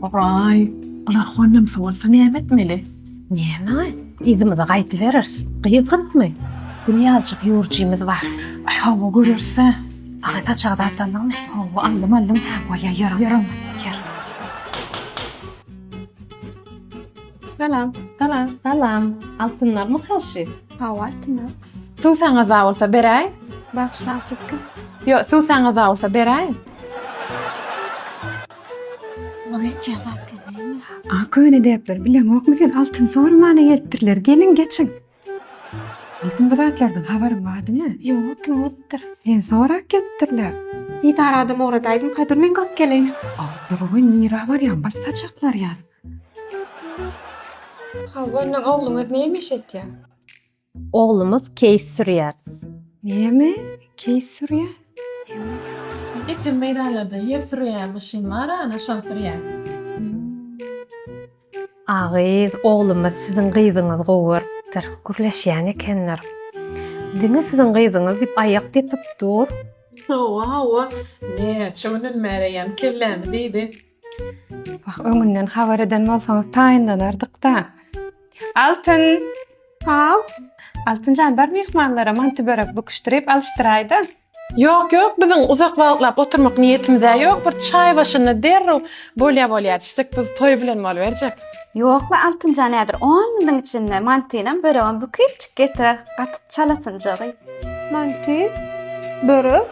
Howaý, bular honamsy bolsa näme etmeli? Näme, yzymyza gaýdybereris. Gyzykmy? Günýajyk ýurjymyz bar. Aý, hawa, göreris-ä. Aga saçagy zat aldyňmy? Hawa, aldym, aldym. Hä, bolýar, ýör, ýör onda, ýör. Salam. Salam. Salam. Altynlar mı karşı? Hawa altynlar. Suw saňa za bolsa beräý. Bagşlaň siz kim? Yo, suw saňa za bolsa beräý. Oňa etýän zatlar näme? A köne depler bileňokmy sen altyn sormana gelipdirler gelin geçin. Altyn bu zatlardan habaryň bardymy? Ýok, kim bolupdyr? Sen sorak gelipdirler. Didar adam ugradaýdym, Kadir men gap geleýin. Altyn goý nira barýan bir saçaklar ýaz. Hawa, ondan ogluňyz näme iş etýär? Oglumyz keýik sürýär. Näme? Keýik sürýär? Ekin meýdanlarda ýer sürýän maşyn bar-a, ana, şony sürýär. A gyz, oglumyz siziň gyzyňyzy gowy görüpdir. Gürleşýän ekenler. Diňe siziň gyzyňyz diýip aýak depip dur. Hawa, hawa. Näçe günden bäri eýýäm kellämi diýdi. Wah, öňünden habar eden bolsaňyz taýynlanardyk-da. Altyn! Haw? Altynjan, bar myhmanlara manty börek bukuşdyryp alyşdyraýda. Ýok, ýok, biziň uzak wagtlap oturmak niýetimiz-ä ýok, bir çaý başynda derrew bolýa bolýa düşsek, biz toý bilen boluberjek. Ýok-la, Altynjan häzir on minutyň içinde mantynam, böregem büküp çyk getirer, gaty çalasynjagy. Manty? Börek?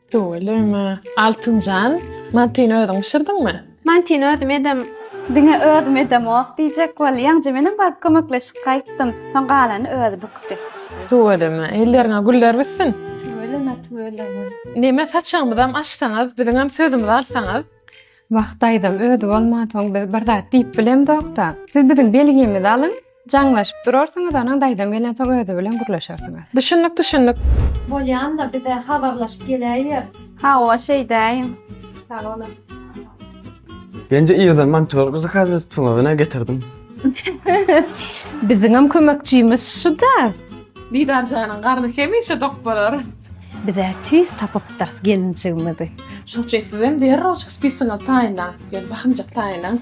Tüweleme. Altynjan, mantini özüň bişirdiňmi? Mantini özüm edem. Diňe özüm edemok diýjek bolýaň, je menem baryp kömekleşip gaýtdym. Soň galany özi bükdi. Tüweleme, elleriňe güller bitsin. Tüweleme, tüweleme. Neme saçagymyzam açsaňyz, biziňem sözümizi alsaňyz. Wah daýzam özi bolmansoň biz bir zat diýip bilemzok-da. Siz biziň belgimizi alyň, jaňlaşyp durarsyňyz onuň daýzam gelensoň özi bilen gürleşersiňiz. Düşündik düşündik. Bolýanda bize habarlaşyp geläýer. Hawa şeýdäýiň. Sag boluň. Bence irden monteur bizi kaz edipsiňiz ine getirdim. Biziňem kömekçimiz şu-da. Didar janyň garny hemişe dok bolar. Bizä tüýs tapypdyrys gelinjigimizi. Şoň üçin sizem derrewjik spisiňizi taýynlaň, ýöne bahymjak taýynlaň.